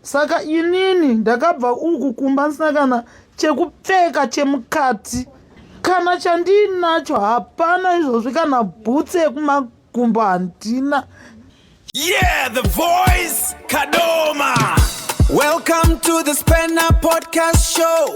saka inini ndakabva uku kumba ndisina kana chekupfeka chemukati kana chandiinacho hapana izvozvi kana bhutsi yekumakumbo handina yeah the voice kadoma welcome to the spanner podcast show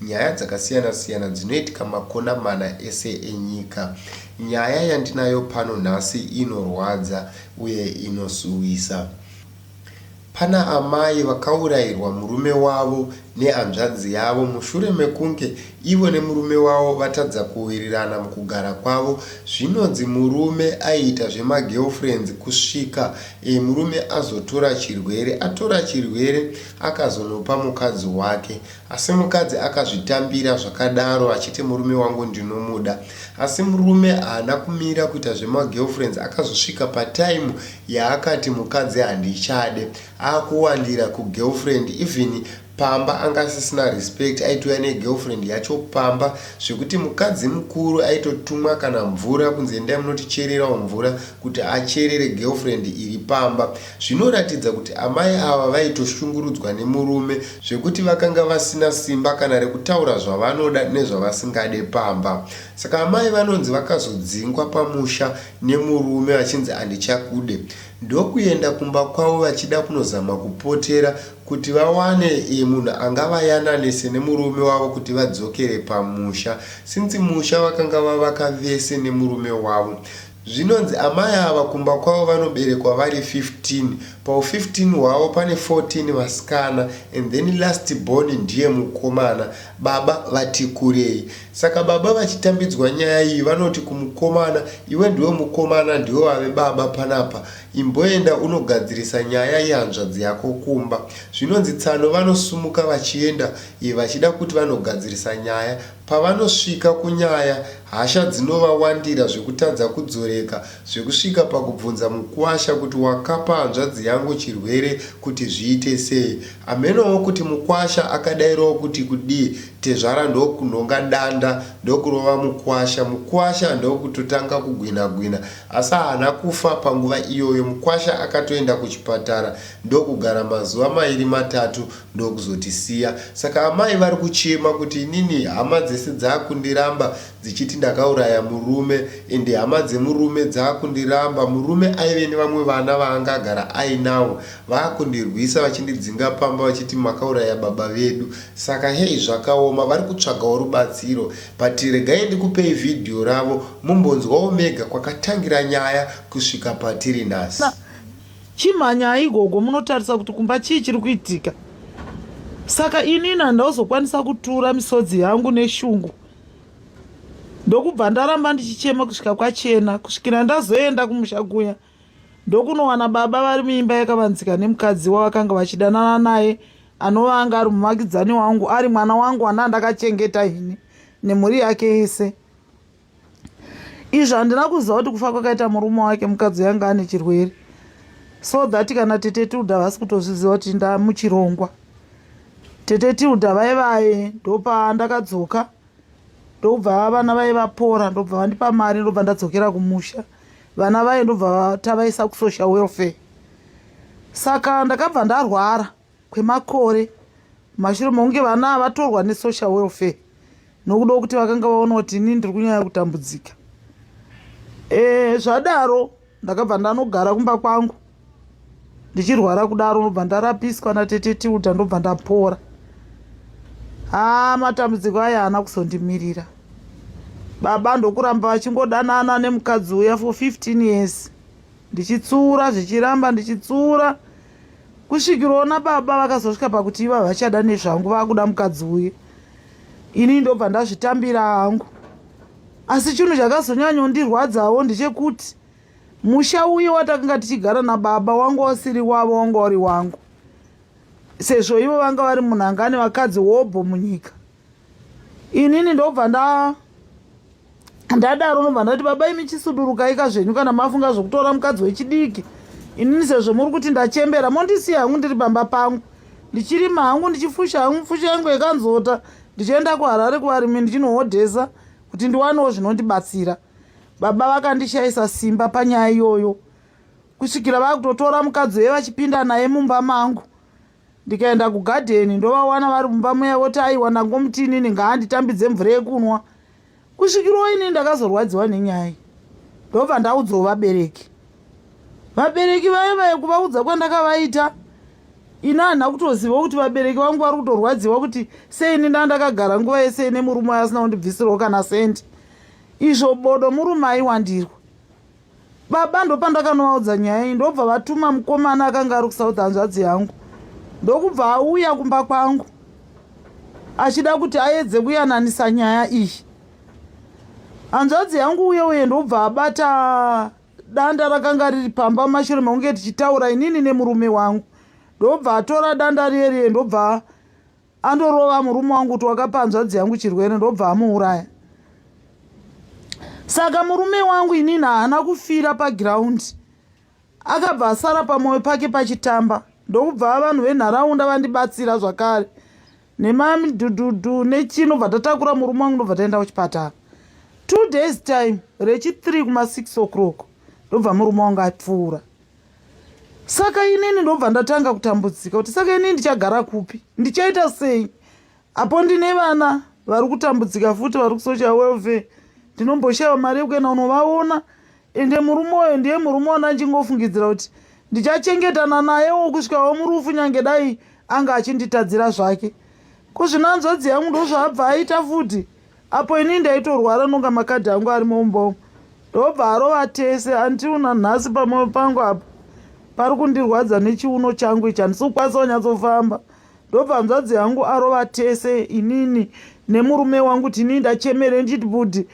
Nyaya dzakasiyana siyana dzinoitika makona mana ese enyika. Nyaya yandinayo pano nhasi inorwadza uye inosuwisa. Pana amai vakaurairwa murume wavo nehanzvadzi yavo mushure mekunge ivo nemurume wavo vatadza kuwirirana mukugara kwavo. Zvinonzi murume aiita zvemagirlfriends kusvika murume azotora chirwere. Atora chirwere akazonopa mukadzi wake Asi mukadzi akazvitambira zvakadaro achiti murume wangu ndinomuda. Asi murume haana kumira kuita zvema girlfriends akazosvika pa time yaakati mukadzi handichade. Akuwandira ku girlfriend even pamba anga asisina respect aitouya ne girlfriend yacho pamba zvekuti mukadzi mukuru aitotumwa kana mvura kunzi endai munotichererawo mvura kuti acherere girlfriend iri pamba. Zvinoratidza kuti amai ava vaitoshungurudzwa nemurume zvekuti vakanga vasina simba kana rekutaura zvavanoda nezvavasingade pamba. Saka amai vanonzi vakazodzingwa pamusha nemurume vachinzi handichakude ndokuenda kumba kwavo vachida kunozama kupotera kuti vawane munhu angavayananise nemurume wavo kuti vadzokere pamusha since musha vakanga vavaka vese nemurume wavo. Zvinonzi amai ava kumba kwavo vanoberekwa vari 15, pahu 15 hwavo pane 14 vasikana and then last born ndiye mukomana, baba vatikurei. Saka baba vachitambidzwa nyaya iyi vanoti kumukomana, iwe ndiwe mukomana ndiwe wave baba panapa, imboenda unogadzirisa nyaya yehanzvadzi yako kumba. Zvinonzi tsano vanosumuka vachienda vachida kuti vanogadzirisa nyaya. Pavanosvika kunyaya, hasha dzinovawandira zvekutadza kudzoreka zvekusvika pakubvunza mukuwasha kuti wakapa hanzvadzi yangu chirwere kuti zviite sei. Hamenowo kuti mukuwasha akadairawo kuti kudii, tezvara ndokunhonga danda ndokurova mukuwasha. Mukuwasha ndokutotanga kugwinha gwinha asi haana kufa panguva iyoyo. Mukuwasha akatoenda kuchipatara ndokugara mazuva mairi matatu ndokuzotisiya saka amai vari kuchema kuti inini hama dzese dzakundiramba dzichiti ndakauraya murume ende hama dzemurume dzakundiramba murume aive nevamwe vana vaanga agara ainavo vakundirwisa vachindidzinga pamba vachiti makauraya baba vedu saka hei zvakaoma vari kutsvagawo rubatsiro but regai ndikupei vhidhiyo ravo mumbonzwawo mega kwakatangira nyaya kusvika patiri nhasi Chimhanyai gogo munotarisa kuti kumba chii chiri kuitika. Saka inini handauzokwanisa kutura misodzi yangu neshungu. Ndokubva ndaramba ndichichema kusvika kwachena kusvikira ndazoenda kumusha kuya ndokunowana baba vari muimba yakavanzika nemukadzi wavakanga vachidanana naye anova anga ari muvakidzani wangu ari mwana wangu wandandakachengeta ini nemhuri yake yese izvi handina kuziva kuti kufa kwakaita murume wake mukadzi yanga ane chirwere so that kana tete tilda vasi kutozviziva kuti ndamuchirongwa tete tilda vai vaye ndopa ndakadzoka ndobva vana vaye vapora ndobva vandipa mari ndobva ndadzokera kumusha vana vaye ndobva tavaisa kusocial welfare saka ndakabva ndarwara kwemakore mashure mokunge vana avatorwa nesocial welfare nokuda kuti vakanga vaona kuti inini ndiri kunyanya kutambudzika e, zvadaro ndakabva ndanogara kumba kwangu ndichirwara kudaro ndobva ndarapiswa natete tilda ndobva ndapora haa matambudziko aya haana kuzondimirira baba ndokuramba vachingodanana nemukadzi uya for 15 years ndichitsura zvichiramba ndichitsura kusvikira ona baba vakazosvika pakuti iva vachada nezvangu vakuda mukadzi uye ini ndobva ndazvitambira hangu asi chinhu chakazonyanyondirwadzawo ndechekuti musha uye watakanga tichigara nababa wanga wasiri wavo wanga wari wangu sezvo ivo vanga vari munhangani vakadzi hobho munyika inini ndobva nda ndadaro nobva ndati baba imi chisudurukaika zvenyu kana mafunga zvekutora mukadzi wechidiki inini sezvo muri kuti ndachembera mondisiya hangu ndiri pamba pangu ndichirima hangu ndichifusha hangu fusha yangu yekanzota ndichienda kuharare kuvarimi ndichinohodhesa kuti ndiwanewo zvinondibatsira baba vakandishayisa simba panyaya iyoyo kusvikira vakutotora mukadzi weye vachipinda naye mumba mangu ndikaenda kugadheni ndovawana vari mumba muya voti aiwa ndangomutinini ngaanditambidze mvura yekunwa kusvikirwo ini ndakazorwadziwa nenyaya ndobva ndaudzwa vabereki vabereki vaye vaye kuvaudza kwandakavaita ini handina kutoziva kuti vabereki vangu vari kutorwadziwa kuti seini nda ndakagara nguva yese ine murume aye asina kundibvisirwo kana sendi izvo bodo murume aiwandirwa baba ndopandakanovaudza nyaya iyi ndobva vatuma mukomana akanga ari kusouth hanzvadzi yangu ndokubva auya kumba kwangu achida kuti aedze kuyananisa nyaya iyi hanzvadzi yangu uye uye ndobva abata danda rakanga riri pamba mashure maunge tichitaura inini nemurume wangu ndobva atora danda riye riye ndobva andorova murume wangu kuti wakapa hanzvadzi yangu chirwere ndobva amuuraya saka murume wangu inini haana kufira pagiraundi akabva asara pamwoyo pake pachitamba ndokubva vanhu venharaunda vandibatsira zvakare nemamidhudhudhu nechino bva tatakura murume wangu ndobva taenda kuchipatara two days time rechi three kuma six o'clock ndobva murume wangu apfuura saka inini ndobva ndatanga kutambudzika kuti saka inini ndichagara kupi ndichaita sei apo ndine vana vari kutambudzika futi vari kusocha welfare ndinomboshaiwa mari yekuenda unovaona ende murume uyo ndiye murume ona ndichingofungidzira kuti ndichachengetana nayewo kusvikawo murufu nyange dai anga achinditadzira zvake kuzvinanzvadzi yangu ndozvaabva aita futi apo ini ndaitorwara nonga makadhi angu ari mumba umu ndobva arova tese andiwo nanhasi pamoyo pangu apo pari kundirwadza nechiuno changu ichi handisi kukwanisa kunyatsofamba ndobva hanzvadzi yangu arova tese inini nemurume wangu kuti inini ndachemere ndichiti budi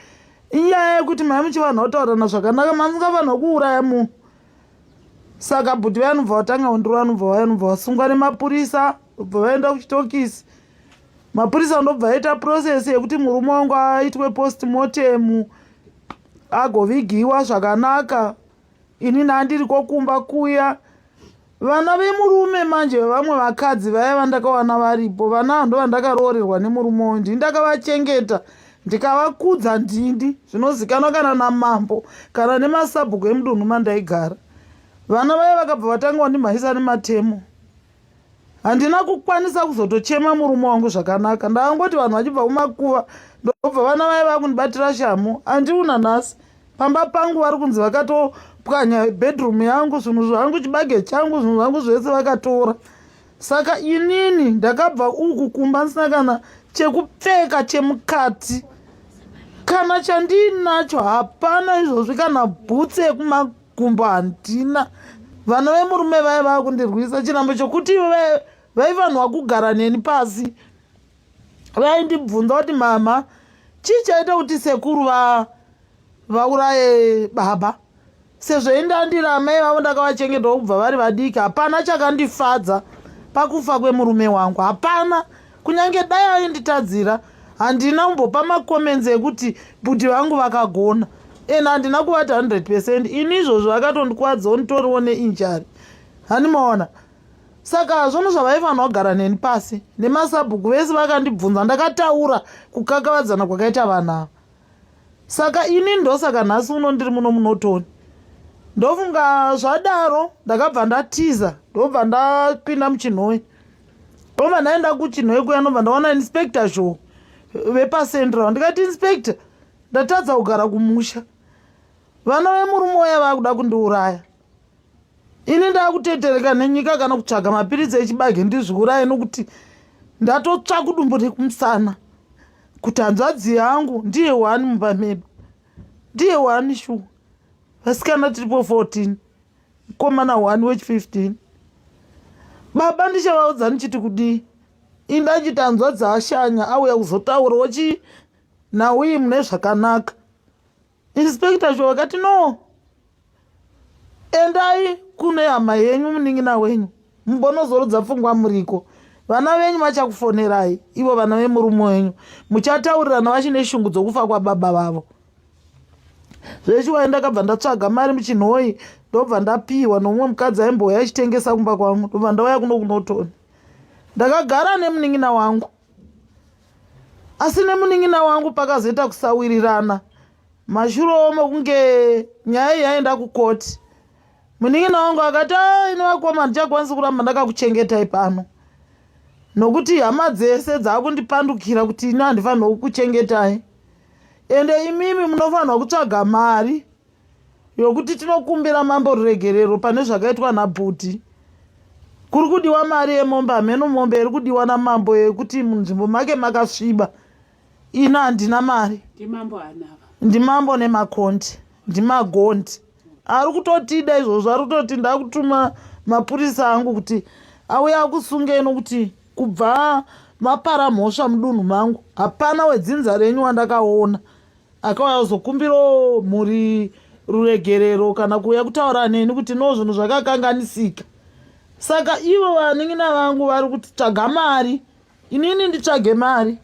inyaya yekuti mai muchivanhu vautaurana zvakanaka masingafanha kuuraya munhu saka budi vayanobva vatanga kundiro vanobva vayanobva vasungwa nemapurisa bva vaenda kuchitokisi mapurisa ndobva aita process yekuti murume wangu aitwe postmortem agovigiwa zvakanaka ini nandiri kokumba kuya vana vemurume manje vevamwe vakadzi vaya vandakawana varipo vana ndo vandakaroorerwa nemurume uyu ndini ndakavachengeta ndikavakudza ndini zvinozikanwa kana namambo kana nemasabhuku emudunhu mandaigara vana vaya vakabva vatanga wandimhaisa nematemo handina kukwanisa kuzotochema murume wangu zvakanaka ndakangoti vanhu vachibva kumakuva ndobva vana vaye vakundibatira shamu andiuna nhasi pamba pangu vari kunzi vakatopwanya bedroom yangu zvinhu zvangu chibage changu zvinhu zvangu zvese vakatora saka inini ndakabva uku kumba ndisina kana chekupfeka chemukati kana chandiinacho hapana izvozvi kana bhutsi yekumaku kumba handina vana vemurume vaye vava kundirwisa chirambo chokuti ivo vaifanirwa kugara neni pasi vaindibvunza kuti mama chii chaita kuti sekuru vauraye baba sezvo indandira amai vavo ndakavachengetawo kubva vari vadiki hapana chakandifadza pakufa kwemurume wangu hapana kunyange dai ainditadzira handina kumbopa macomments ekuti bhudhi vangu vakagona and handina kuvati 100 percent ini izvozvo vakatondikwadza onditoriwo neinjari hani maona saka zvono zvavaifanira kugara neni pasi nemasabhuku vese vakandibvunza ndakataura kukakavadzana kwakaita vanhu ava saka ini ndosaka nhasi uno ndiri muno munotoni ndofunga zvadaro ndakabva ndatiza ndobva ndapinda muchinhoyi ova ndaenda kuchinhoi kuya ndobva ndaona inspector zhou vepacentral ndikati inspector ndatadza kugara kumusha vana vemurume waya vaakuda kundiuraya ini ndaakutetereka nenyika kana kutsvaga mapiritsi echibage ndizviuraye nokuti ndatotsva kudumbu rekumusana kuti hanzvadzi yangu ndiye wani mumba medu ndiye wani shuwa vasikana tiripo 14 mkomana one wech 15 baba ndichavaudza ndichiti kudii indanji tanzwa dzaashanya auya kuzotaura wachii nauyi mune zvakanaka inspector cho vakati no endai kune hama yenyu munin'ina wenyu mubonozorudza pfungwa muriko vana venyu vachakufonerai ivo vana vemurume wenyu muchataurirana vachine shungu dzokufa kwababa vavo zvechiwai ndakabva ndatsvaga mari muchinhoyi ndobva ndapiwa nomumwe mukadzi aimbouya achitengesa kumba kwangu ndobva ndauya kuno kunotoni ndakagara nemunin'ina wangu asi nemunin'ina wangu pakazoita kusawirirana mashuro omo kunge nyaya yaenda kukoti munin'ina wangu akati ah, ini vakoma handichakwanisi kuramba ndakakuchengetai pano nokuti hama dzese dzaakundipandukira kuti ini handifanirwe kukuchengetai ende imimi munofanirwa kutsvaga mari yokuti tinokumbira mambo ruregerero pane zvakaitwa nabhuti kuri kudiwa mari yemombe hameno mombe iri kudiwa namambo yekuti munzvimbo make makasviba ini handina mari ndimambo nemakonti ndimagonti ari kutotida izvozvo ari kutoti ndakutuma mapurisa angu kuti auya akusungei nokuti kubva mapara mhosva mudunhu mangu hapana wedzinza renyu wandakaona akauya kuzokumbirawo mhuri ruregerero kana kuuya kutaura neni kuti no zvinhu zvakakanganisika saka ivo vanin'ina vangu vari kuti tsvaga mari inini nditsvage mari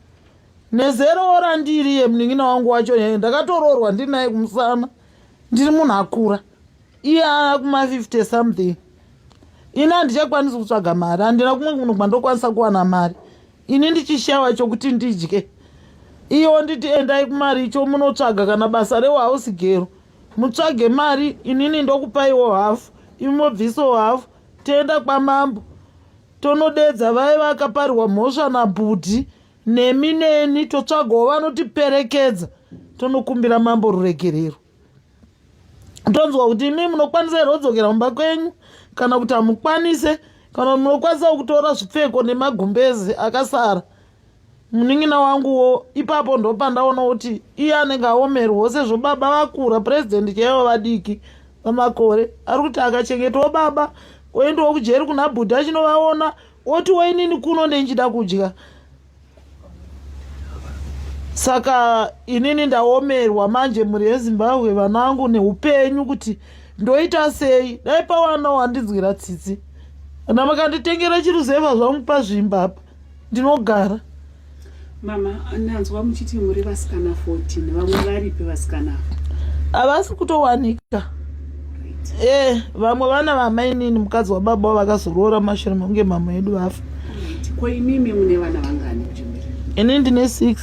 nezerowo randiri yemunin'ina wangu wacho nyaya ndakatoroorwa ndiri naye kumusana ndiri munhu akura iye aa kuma50 something ini handichakwanisi kutsvaga mari handina kumwe munhu kwandokwanisa kuwana mari ini ndichishawa chokuti ndidye iyo nditi endai kumari icho munotsvaga kana basa rewahausi gero mutsvage mari inini ndokupaiwo hafu imobviso hafu toenda kwamambo Tonodeedza vaye vakaparirwa mhosva nabhudhi nemi neni totsvagawo vanotiperekedza tonokumbira mambo ruregerero tonzwa kuti imi munokwanisa here kudzokera mumba kwenyu kana kuti hamukwanise kana munokwanisa kutora zvipfeko nemagumbezi akasara munin'ina wanguwo ipapo ndopandaona kuti iye anenge aomerwo sezvo baba vakura purezidendi chaivo vadiki pamakore ari kuti akachengetawo baba oendawo kujeri kuna bhudhi achinovaona oti wainini kuno ndendichida kudya saka inini ndaomerwa manje mhuri yezimbabwe vanangu neupenyu kuti ndoita sei dai pawanawo handinzwira tsitsi kana makanditengera chiruzeva zvangu pazvimba apa ndinogara mama ndanzwa muchiti muri vasikana 14 vamwe varipi vasikana havasi kutowanika e eh, vamwe vana vamainini mukadzi wababa wa vakazoroora mashure mekunge mama yedu vafa ko imimi mune vana vangani ini ndine six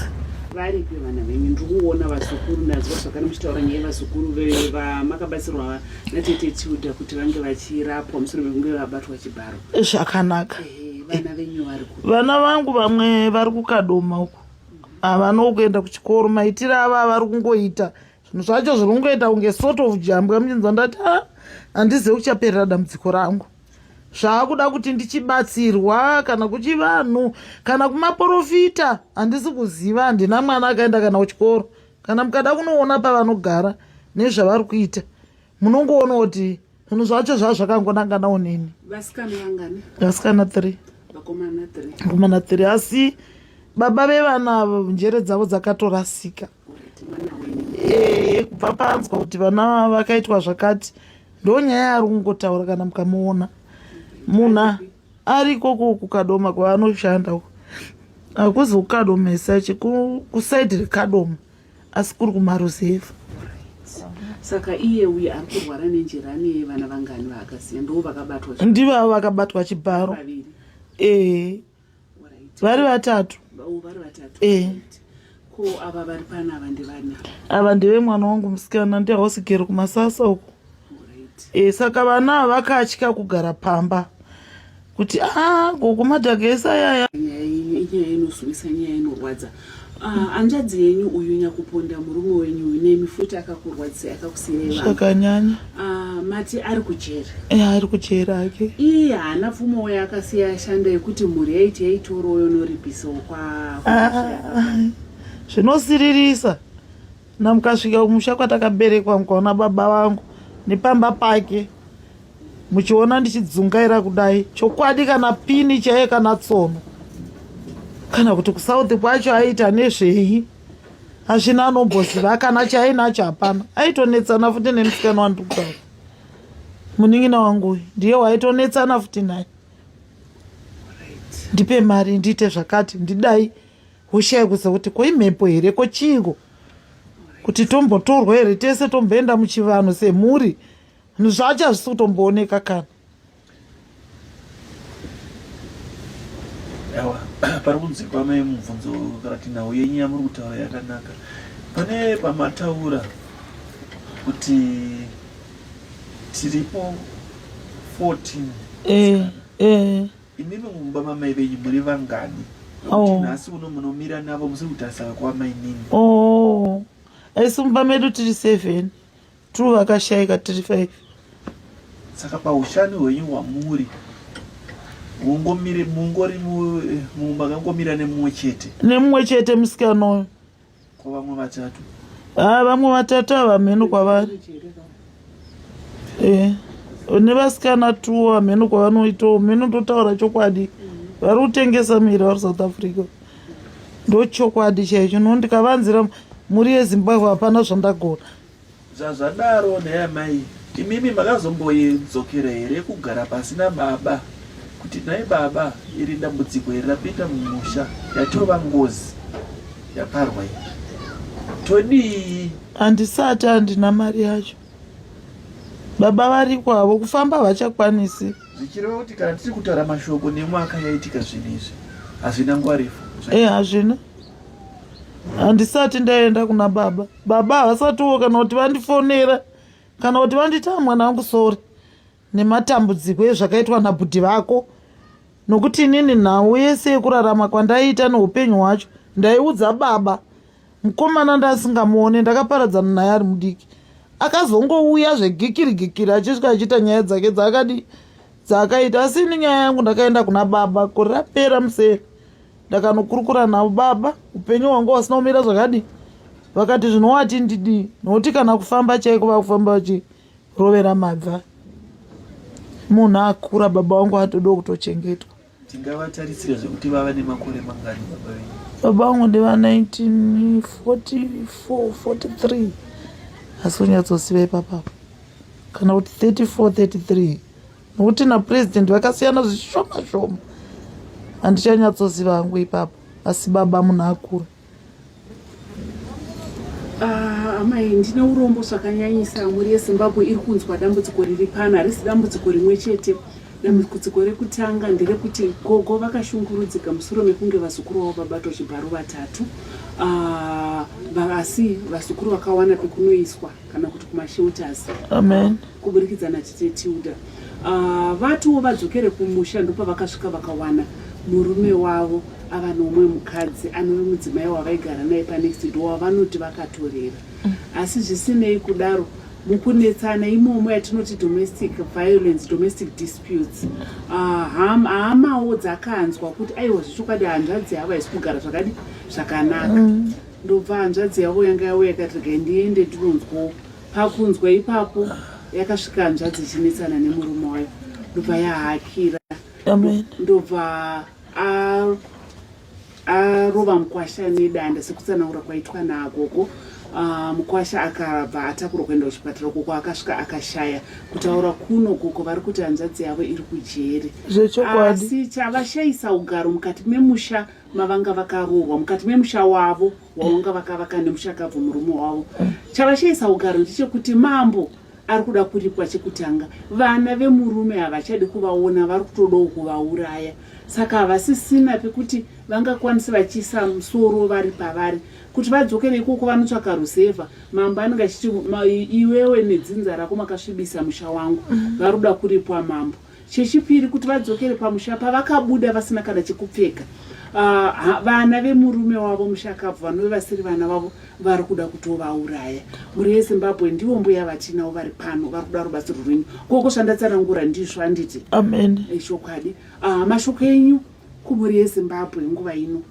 varipi vana venyu ndiri kuona vazukuru nazwa zvakana muchitaura nyaya vazukuru vamakabatsirwa natete tilda kuti vange vachirapwa mushure mekunge vabatwa chibharo zvakanaka vana vangu vamwe vari kukadoma uku havana kuenda kuchikoro maitiro ava avari kungoita zvinhu zvacho zviri kungoita kunge sort of jambwa muchinzwa ndati a ah, handizive kuchaperera dambudziko rangu zvaakuda kuti ndichibatsirwa kana kuchivanhu kana kumaporofita handisi kuziva handina mwana akaenda kana kuchikoro kana mukada kunoona pavanogara nezvavari kuita munongoona kuti zvinhu zvacho zvaa zvakangonanganawo neni vasikana three vakomana three asi baba vevana avo njere dzavo dzakatorasika kubva panzwa kuti vana vakaitwa zvakati ndo nyaya ari kungotaura kana mukamuona munhu ariko kukadoma kwaanoshanda uko hakuzi kukadomesa chekusaidi rekadoma asi kuri kumaruzevha saka iye uye ari kurwara nenjerani yevana vangani vaakasiya ndoo vakabatwa ndivavo vakabatwa chibharo ee vari vatatu ee ko ava vari pana ava ndevana ava ndevemwana wangu musikana ndehausigero kumasasa uko e, saka vana ava vakatya kugara pamba kuti a ah, gogo madhagesa yaya inyaya inozwisa nyaya inorwadza ah, anjadzi yenyu uyu nyakuponda murume wenyu uyu nemi futi akakurwadzisa akakusiyai zvakanyanya ah, mati ari kujera e, ari kujera ake iye haana pfumo wayo akasiya ashanda yekuti mhuri yaiti yaitoroyo noripisawo kwa zvinosiririsa ah, namukasvika kumusha kwatakaberekwa mukaona baba vangu nepamba pake muchiona ndichidzungaira kudai chokwadi kana pini chaiye kana tsono kana kuti kusouth kwacho aiita nezvei hazvina anomboziva kana chainacho hapana aitonetsana futi nemusikana wandikuda munin'ina wangu ndiye waitonetsana futi naye ndipe mari ndiite zvakati ndidai Hushaya kusa kuti ko imhepo here ko chiiko kuti tombotorwa here tese tomboenda muchivanhu semhuri zvinhu zvacho hazvisi kutombooneka kana awa pari kunzi kwamai mubvunzo kana kuti nhau yenyu yamuri kutaura yakanaka pane pamataura kuti tiripo 14 eh, eh. Imimi mumba mamai venyu muri vangani? Oh. Nhasi uno munomira navo musiri kutarisana kwamai nini? Oh. Asi mumba medu tiri seven. Two vakashaika tiri five. Saka paushani hwenyu hwamuri mungori mumba kangomira nemumwe chete nemumwe chete musikana uyu kwavamwe vatatu ah vamwe vatatu havamheno kwavari eh une vasikana two hamheno kwavanoitawo mheno ndotaura chokwadi vari kutengesa miri vari south africa ndochokwadi chaicho no ndikavanzira mhuri yezimbabwe hapana zvandagona Zvazvadaro nhai amai imimi makazombodzokera here kugara pasi nababa kuti nhai baba iri dambudziko iri rapinda mumusha yatova ngozi yaparwa iyi todii handisati handina mari yacho baba variko havo kufamba havachakwanisi zvichireva kuti kana tiri kutaura mashoko nemwaka yaitika zvinhu izvi hazvina nguva refu e hazvina handisati ndaenda kuna baba baba havasatiwo kana kuti vandifonera kana kuti vanditaa mwana wangu sori nematambudziko ezvakaitwa nabhudhi vako nokuti inini nhau yese yekurarama kwandaiita neupenyu hwacho ndaiudza baba mukomana ndasingamuone ndakaparadzana naye ari mudiki akazongouya zvegikiri gikiri achisvika achiita nyaya dzake dzaakadii dzaakaita asi ini nyaya yangu ndakaenda kuna baba kuri rapera museri ndakanokurukura navo baba upenyu hwangu hwasina kumira zvakadii vakati zvinowati ndidii nokuti kana kufamba chaiko vakufamba vachirovera mabva munhu akura baba wangu atodo kutochengetwa tingavatarisira zvekuti vava nemakore mangani baba venyu baba vangu ndiva 194443 asi unyatsosiva ipapapo kana kuti 3433 nokuti napurezidendi vakasiyana zvishoma shoma handichanyatsoziva hangu ipapo asi baba munhu akura ah, amai ndine urombo zvakanyanyisa mhuri yezimbabwe iri kunzwa dambudziko riri pano harisi dambudziko rimwe chete dambudziko rekutanga nderekuti gogo vakashungurudzika musoro mekunge vazukuru vavo vabatwa chibharo vatatu ah, asi vazukuru vakawana pekunoiswa kana kuti kumashelters amen kuburikidza natete tilda uh, vatiwo vadzokere kumusha ndopavakasvika vakawana murume wavo ava nomwe mukadzi anove mudzimai wavaigara naye panext door wavanoti vakatorera mm. asi zvisinei kudaro mukunetsana imomo yatinoti domestic violence domestic disputes ah, hamawo dzakanzwa kuti aiwa zvechokwadi hanzvadzi hava hisi kugara zvakadi zvakanaka mm. ndobva hanzvadzi yavo yanga yavo yakati regai ndiende ndinonzwawo pakunzwa ipapo yakasvika hanzvadzi ichinetsana nemurume wayo ndobva yahakira ndobva arova mukwasha nedanda sekutsanangura kwaitwa naagogo ah, mukwasha akabva atakurwa kuenda kuchipatara ukoko akasvika akashaya kutaura kuno koko vari kuti hanzvadzi yavo iri kujeri asi chavashayisa ugaro mukati memusha mavanga vakaroorwa mukati memusha wavo wavanga vakavaka nemushakabvu murume wavo chavashaisa ugaro ndechekuti mambo ari kuda kuripwa chekutanga vana vemurume havachadi kuvaona vari kutodawo kuvauraya saka havasisina pekuti vangakwanisi vachiisa musoro vari pavari kuti vadzoke neikoko vanotsvaka rusevha mambo anenge achiti iwewe nedzinza rako makasvibisa musha wangu vari kuda kuripwa mambo Chechipiri, kuti vadzokere pamusha pavakabuda vasina kana chekupfeka. Uh, vana vemurume wavo mushakabvu vanove vasiri vana vavo vari kuda kutovauraya. Mhuri yeZimbabwe ndivo mbuya vatinavo vari pano vari kuda rubatsiro rwenyu. Koko zvandatsanangura ndizvo handiti? Amen. Ichokwadi. Uh, mashoko enyu kumhuri yeZimbabwe nguva ino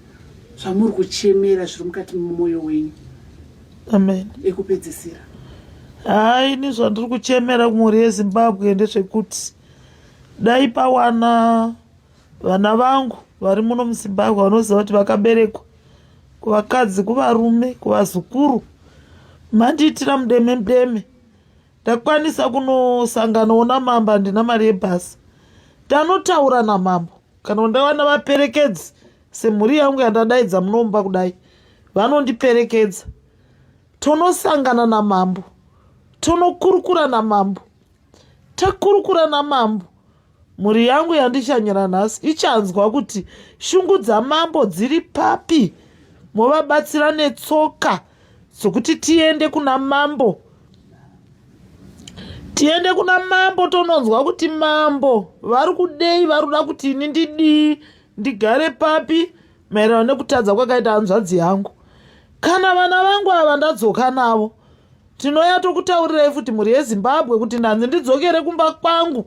zvamuri kuchemera zviri mukati memwoyo wenyu. amen ekupedzisira haa ini zvandiri kuchemera kumhuri yezimbabwe ndezvekuti dai pawana vana vangu vari muno muzimbabwe vanoziva kuti vakaberekwa kuvakadzi kuvarume kuvazukuru mandiitira mudeme mudeme ndakwanisa kunosanganawo namambo handina mari yebhasi tanotaura namambo kana ndawana vaperekedzi semhuri yangu yandadaidza munomba kudai vanondiperekedza tonosangana namambo tonokurukura namambo takurukura namambo mhuri yangu yandichanyira nhasi ichanzwa kuti shungu dzamambo dziri papi movabatsira netsoka dzokuti tiende kuna mambo tiende kuna mambo tononzwa kuti mambo vari kudei vari kuda kuti ini ndidii ndigare papi maererano nekutadza kwakaita hanzvadzi yangu kana vana vangu ava ndadzoka navo tinoya tokutaurirai futi mhuri yezimbabwe kuti ndanzi ndidzokere kumba kwangu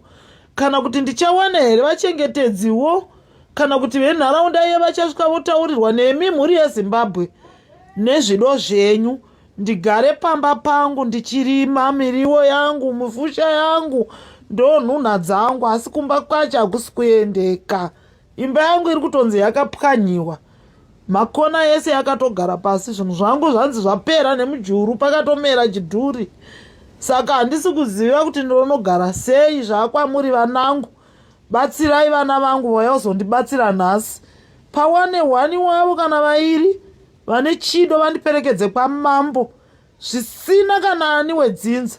kana kuti ndichawana here vachengetedziwo kana kuti venharaunda iye vachasvika votaurirwa nemi mhuri yezimbabwe nezvido zvenyu ndigare pamba pangu ndichirima miriwo yangu mufusha yangu ndonhunha dzangu asi kumba kwacho hakusi kuendeka imba yangu iri kutonzi yakapwanyiwa makona yese yakatogara pasi zvinhu zvangu zvanzi zvapera nemujuru pakatomera chidhuri saka handisi kuziva kuti ndonogara sei zvaakwamuri vanangu batsirai vana vangu vayozondibatsira nhasi pawane hwani wavo kana vairi vane chido vandiperekedze kwamambo zvisina kana ani wedzinza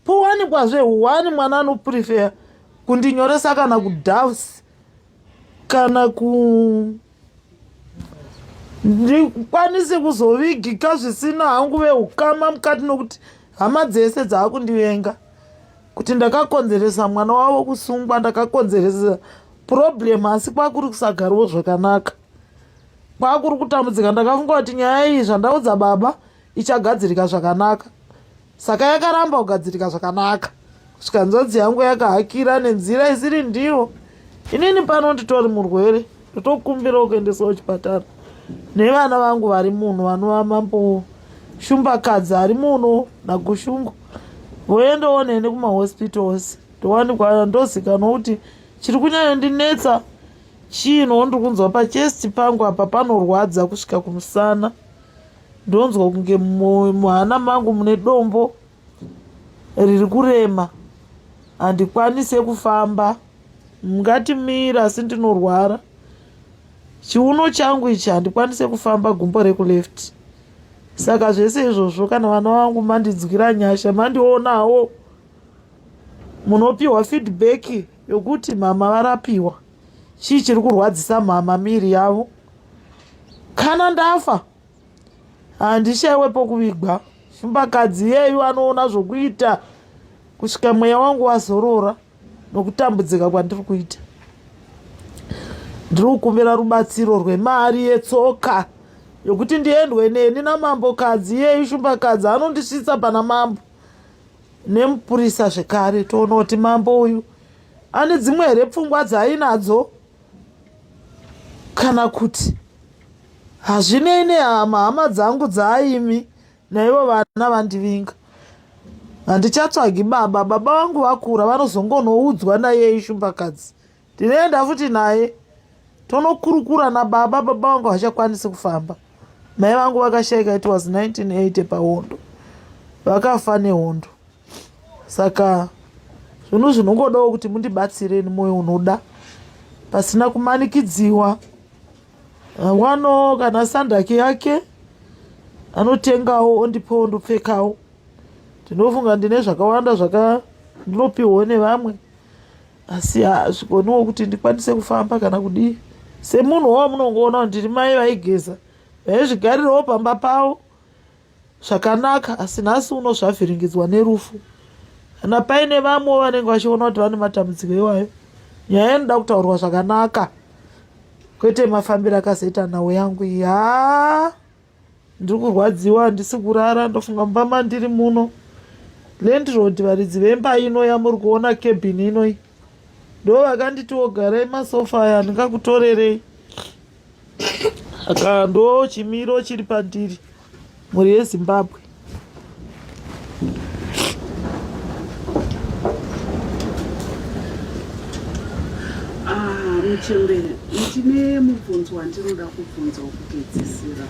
powanikwazve one mwana anoprefeya kundinyoresa kana kudavs kana ku ndikwanise kuzovigika zvisina hangu veukama mukati nokuti hama dzese dzaakundivenga kuti ndakakonzeresa mwana wavo kusungwa ndakakonzeresa problem asi kwakuri kusagariwo zvakanaka kwakuri kutambudzika ndakafunga kuti nyaya iyi zvandaudza baba ichagadzirika zvakanaka saka yakaramba kugadzirika zvakanaka kusvika nzodzi yangu yakahakira nenzira isiri ndiyo inini pano nditori murwere ndotokumbira kuendesawo chipatara nevana vangu vari muno vanova mambo shumbakadzi ari muno nagushungu voendawo neni kumahospitals ndowanikwa ndozikanwa kuti chiri kunyanya ndinetsa chii no ndiri kunzwa pachest pangu apa panorwadza kusvika kumusana ndonzwa kunge muhana mangu mune dombo riri kurema handikwanise kufamba ngatimira asi ndinorwara chiuno changu ichi handikwanise kufamba gumbo rekuleft saka zvese izvozvo kana vana vangu mandidzwira nyasha mandionawo munopiwa feedback yokuti mhama varapiwa chii chiri kurwadzisa mhama miri yavo kana ndafa handishaiwe pokuvigwa chimbakadzi yeyu anoona zvokuita kusvika mweya wangu wazorora nokutambudzika kwandiri kuita ndiri kukumbira rubatsiro rwemari yetsoka yokuti ndiendwe neni namambokadzi yeyu shumbakadzi anondisvitsa pana mambo nemupurisa zvekare toona kuti mambo uyu ane dzimwe here pfungwa dzaainadzo kana kuti hazvinei nehama hama dzangu dzaaimi naivo vana vandivinga handichatsvagi baba baba vangu vakura vanozongonoudzwa naye ishumbakadzi Ndinoenda futi naye tonokurukura nababa baba vangu havachakwanisi kufamba mai vangu vakashaika it was 1980 pahondo vakafa nehondo saka zvinhu zvinongodawo kuti mundibatsireni mwoyo unoda pasina kumanikidziwa wano kana sandaki yake anotengawo ondipawo ndopfekawo ndinofunga ndine zvakawanda zvaka ndinopiwawo nevamwe asi hazvigoniwo kuti ndikwanise kufamba kana kudii semunhu wo munongoona kuti ndiri mai vaigeza vaizvigarirawo pamba pavo zvakanaka asi nhasi uno zvavhiringidzwa nerufu kana paine vamwewo vanenge vachiona kuti vane matambudziko iwayo nyaya inoda kutaurwa zvakanaka kwete mafambiro akazoita nhau yangu yaa ndiri kurwadziwa handisi kurara ndofunga mumba mandiri muno landrod varidzi vemba ino yamuri kuona cabin inoi ndo vakanditiwo garai masofa aya handingakutorerei aka ndo chimiro chiri pandiri mhuri yezimbabwe chembere ndine mubvunzo wandinoda kubvunza wokupedzisira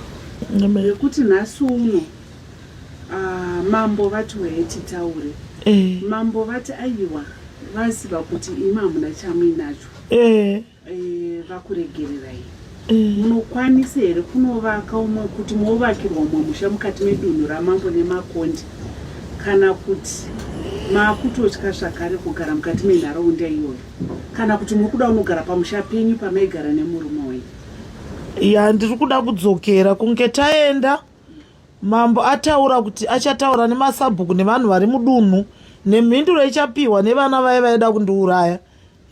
yekuti nhasi uno ah, mambo vati weye titaure eh. mambo vati aiwa vaziva kuti imi hamuna chamuinacho eh. Eh, vakuregererai eh. munokwanisa here kunovaka umwe kuti movakirwa umwe musha mukati medunhu ramambo nemakondi kana kuti maakutotya zvakare kugara mukati menharaunda iyoyo kana kuti muri kuda unogara pamusha penyu pamaigara nemurume wenyu ya ndiri kuda kudzokera kunge taenda mambo ataura kuti achataura nemasabhuku nevanhu vari mudunhu nemhinduro ichapiwa nevana vaye vaida kundiuraya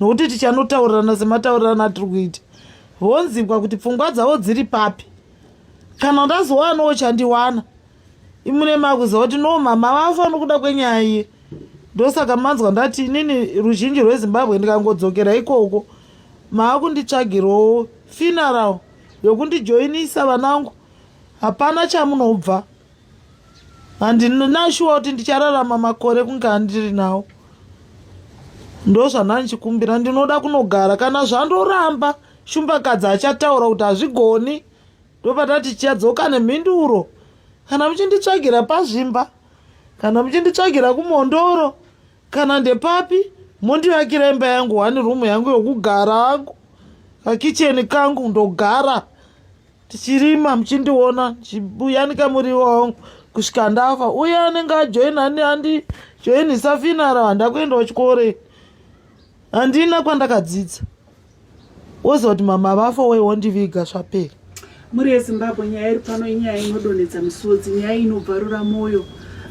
nokuti tichanotaurirana semataurirano atiri kuita vonzibwa kuti pfungwa dzavo dziri papi kana ndazowanawo chandiwana imune makuziva kuti no mama vafa nokuda kwenyaya iye ndosaka manzwa ndati inini ruzhinji rwezimbabwe ndikangodzokera ikoko maakunditsvagirawo funeral yokundijoinisa vanangu hapana chamunobva handinashuwa kuti ndichararama makore kunge andiri nawo ndozvandandichikumbira ndinoda kunogara kana zvandoramba shumbakadzi achataura kuti hazvigoni ndopatati chiyadzoka nemhinduro kana muchinditsvagira pazvimba kana muchinditsvagira kumondoro kana ndepapi mondivakira imba yangu one room yangu yokugara angu kakicheni kangu ndogara tichirima muchindiona ndichibuyanika muriwo wangu kusvika ndafa uye anenge ajoina ani andi joinisa finara handakuendawo chikore handina kwandakadzidza woziva kuti mama vafa wei wondiviga zvapera mhuri yezimbabwe nyaya iri pano inyaya inodonhedza misodzi nyaya inobvarura mwoyo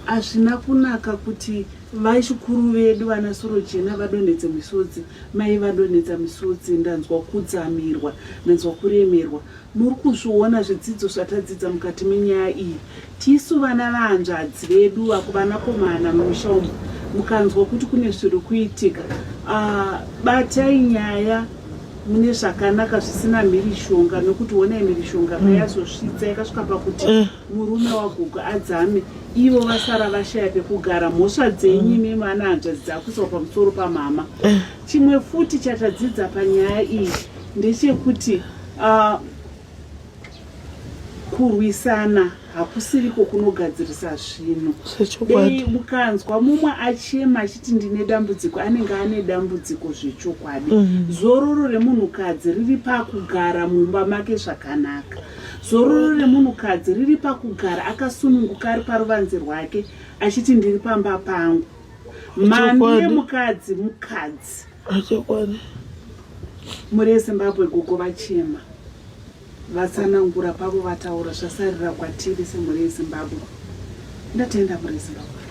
hazvina kunaka kuti Vachikuru vedu vana Sorojena vadonhedze misodzi mai vadonhedza misodzi ndanzwa kudzamirwa ndanzwa kuremerwa muri kuzviona zvidzidzo zvatadzidza mukati menyaya iyi tisu vana vahanzvadzi vedu vakuvanakomana mumusha umu mukanzwa kuti kune zviri kuitika ah, batai nyaya mune zvakanaka zvisina mhirishonga nokuti honai mhirishonga mm. payazosvitsa yakasvika pakuti mm. murume wagogo adzame ivo vasara vashaya pekugara mhosva dzenyu imi mwana hanzvadzi dzakuiswa pamusoro pamama chimwe futi chatadzidza panyaya iyi ndechekuti uh, kurwisana hakusiriko kunogadzirisa zvinhu dei mukanzwa mumwe achema achiti ndine dambudziko anenge ane dambudziko zvechokwadi mhm. zororo remunhukadzi riri pakugara mumba make zvakanaka Zororo remunhukadzi riri pakugara akasununguka ari paruvanze rwake achiti ndiri pamba pangu. Mhandu yemukadzi mukadzi. Achokwadi. Mhuri yeZimbabwe gogo vachema vatsanangura pavo vataura zvasarira kwatiri semhuri yeZimbabwe. Ndatenda mhuri yeZimbabwe.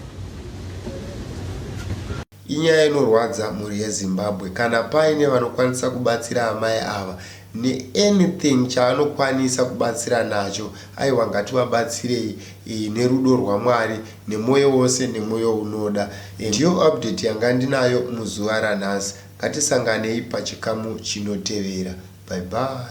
Inyaya inorwadza mhuri yeZimbabwe. Kana paine vanokwanisa kubatsira amai ava ne anything chaanokwanisa kubatsira nacho aiwa ngativabatsirei nerudo rwaMwari nemoyo wose nemoyo unoda. Ndiyo update yanga ndinayo muzuva ranhasi. Ngatisanganei pachikamu chinotevera. Bye bye.